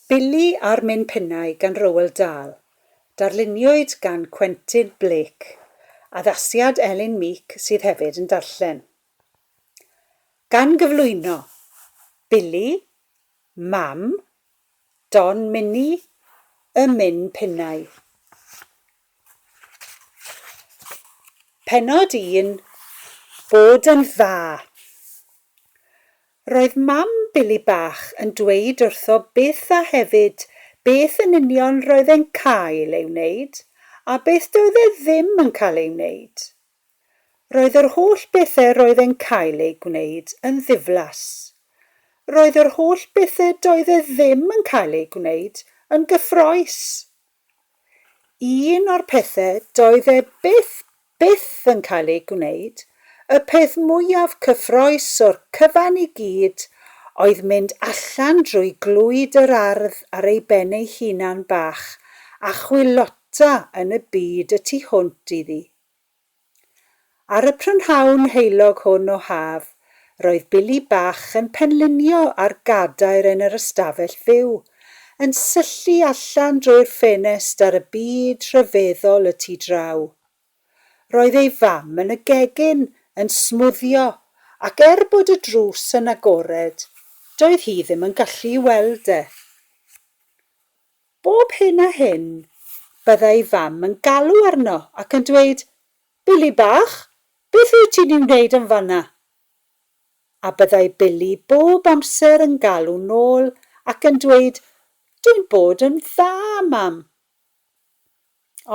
Billy a'r Min Pinnau gan Roald Dahl, darluniwyd gan Quentin Blake, addasiad Elin Meek sydd hefyd yn darllen. Gan gyflwyno, Billy, Mam, Don Mini, Y Min Pinnau. Pennod un, Bod yn Dda! Roedd mam Billy bach yn dweud wrtho byth a hefyd beth yn union roedd e'n cael ei wneud a beth doedd e ddim yn cael ei wneud. Roedd yr holl bethe roedd e'n cael eu gwneud yn ddiflas. Roedd yr holl bethe doedd e ddim yn cael eu gwneud yn gyffroes. Un o'r pethe doedd e byth, byth yn cael ei gwneud, y peth mwyaf cyffrous o'r cyfan i gyd, oedd mynd allan drwy glwyd yr ardd ar ei ben ei hunan bach a chwilota yn y byd y tu hwnt iddi. Ar y prynhawn heulog hwn o haf, roedd Billy bach yn penlinio ar gadair yn yr ystafell fyw, yn syllu allan drwy'r ffenest ar y byd rhyfeddol y tu draw. Roedd ei fam yn y gegin, yn smwddio, ac er bod y drws yn agored, doedd hi ddim yn gallu i weld e. Bob hyn a hyn, bydda ei fam yn galw arno ac yn dweud, Billy bach, beth wyt ti'n ei wneud yn fan'na? A byddai Billy bob amser yn galw nôl ac yn dweud, Dwi'n bod yn dda, mam.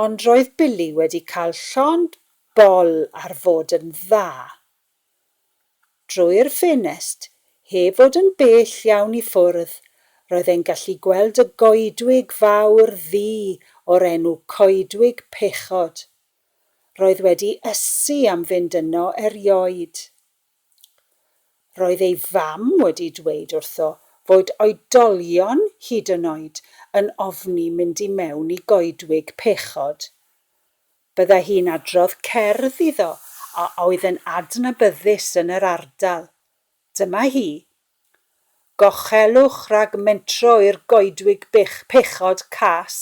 Ond roedd Billy wedi cael llond bol ar fod yn dda. Drwy'r ffenest, heb fod yn bell iawn i ffwrdd, roedd e'n gallu gweld y goedwig fawr ddu o'r enw Coedwig Pechod. Roedd wedi ysu am fynd yno erioed. Roedd ei fam wedi dweud wrtho fod oedolion hyd yn oed yn ofni mynd i mewn i Goedwig Pechod. Byddai hi'n adrodd cerdd iddo a oedd yn adnabyddus yn yr ardal. Dyma hi. Gochelwch rhag mentro i'r goedwig bych, pechod cas.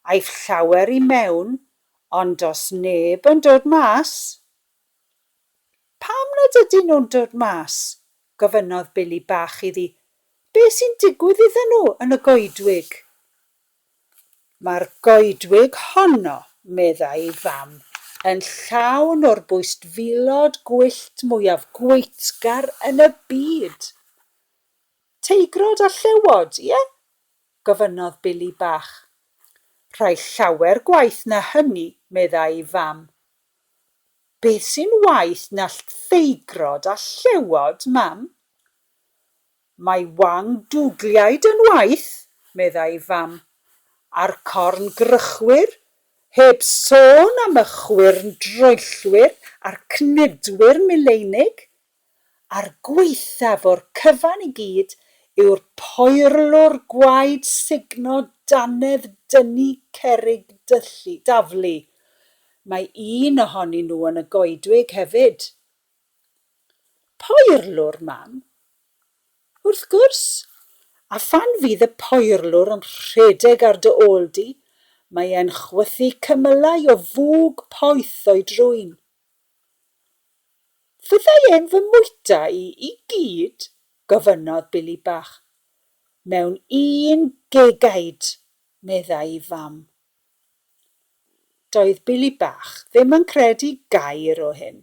Aiff llawer i mewn, ond does neb yn dod mas. Pam nad ydyn nhw'n dod mas? gofynnodd Billy Bach iddi. Be sy'n digwydd iddyn nhw yn y goedwig? Mae'r goedwig honno, meddai ei fam, yn llawn o'r bwystfilod gwyllt mwyaf gweithgar yn y byd! Teigrod a llewod, ie? gofynnodd Billy Bach. Rhai llawer gwaeth na hynny, meddai ei fam. Beth sy'n waeth na llteigrod a llewod, Mam? Mae Wang dwgliaid yn waeth, meddai ei fam, a'r corn grychwir, heb sôn am y chwyrn droellwyr a'r cnydwyr mileinig. A'r gwaethaf o'r cyfan i gyd yw'r poerlwr gwaed sugno dannedd dynnu cerrig daflu. Mae un ohonyn nhw yn y goedwig hefyd. Poerlwr, mam? Wrth gwrs! A phan fydd y poerlwr yn rhedeg ar dy ôl di, mae e'n chwythu cymylau o fwg poeth o'i drwyn. Fyddai e'n fy mwyta i i gyd? gofynnodd Billy Bach. Mewn un gegaid, meddai i fam. Doedd Billy bach ddim yn credu gair o hyn.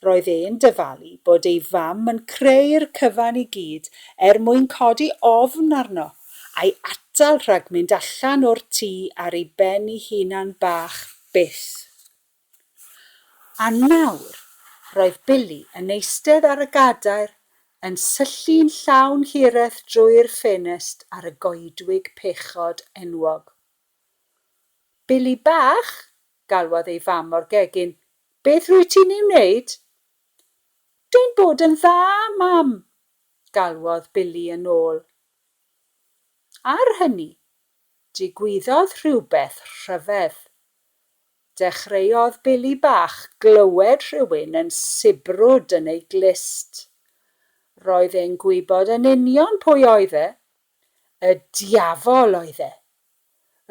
Roedd e'n dyfalu bod ei fam yn creu'r cyfan i gyd er mwyn codi ofn arno a'i atal rhag mynd allan o'r tŷ ar ei ben 'i hunan bach byth. A nawr, roedd Billy yn eistedd ar y gadair, yn syllu'n llawn hireth drwy'r ffenest ar y goedwig pechod enwog. Billy bach! galwodd ei fam o'r gegin, beth rwyt ti'n ei wneud? Dw'n bod yn dda, mam! galwodd Billy yn ôl. Ar hynny, digwyddodd rhywbeth rhyfedd. Dechreuodd Billy Bach glywed rhywun yn sibrwd yn ei glust. Roedd e'n gwybod yn union pwy oedd e. Y Diafol oedd e.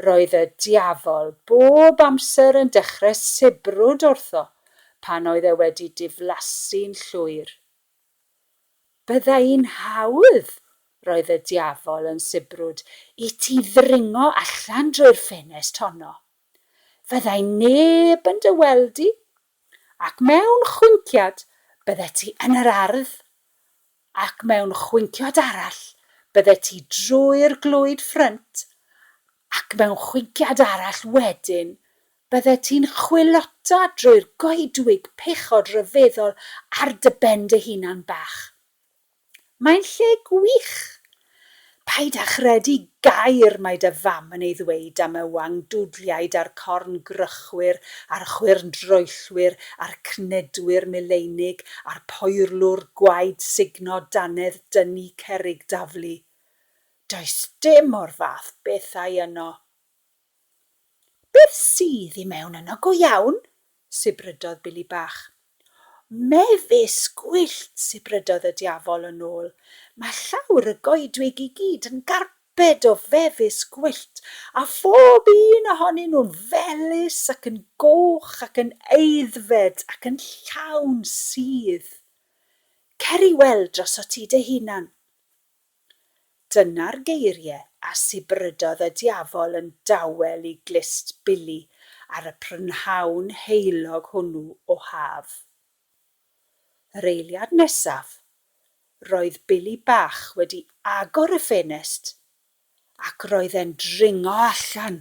Roedd y Diafol bob amser yn dechrau sibrwd wrtho pan oedd e wedi diflasu'n llwyr. Bydda i'n hawdd, roedd y Diafol yn sibrwd, i ti ddringo allan drwy'r ffenest honno. fyddai neb yn dy weld di, ac mewn chwinciad byddet ti yn yr ardd, ac mewn chwinciod arall byddet ti drwy'r glwyd ffrynt, ac mewn chwinciad arall wedyn byddet ti'n chwilota drwy'r goedwig pechod ryfeddol ar dy ben dy hunan bach. Mae'n lle gwych! Paid â chredu gair mae dy fam yn ei ddweud am y wang dwdliaid a'r corn grychwyr a'r chwyrn droellwyr a'r cnedwyr mileinig a'r poerlwr gwaed sugno dannedd dynnu cerrig daflu. Does dim o'r fath bethau yno. Beth sydd i mewn yno go iawn? sibrydodd Billy Bach. Mefus gwyllt, sibrydodd y Diafol yn ôl. Mae llawr y goedwig i gyd yn garped o fefus gwyllt, a phob un ohonyn nhw'n felys ac yn goch ac yn aeddfed ac yn llawn sudd. Cer i weld droso't ti dy hunan. Dyna'r geirie a sibrydodd y diafol yn dawel i glust Billy ar y prynhawn heulog hwnnw o haf. Yr eiliad nesaf, roedd Billy bach wedi agor y ffenest ac roedd e'n dringo allan!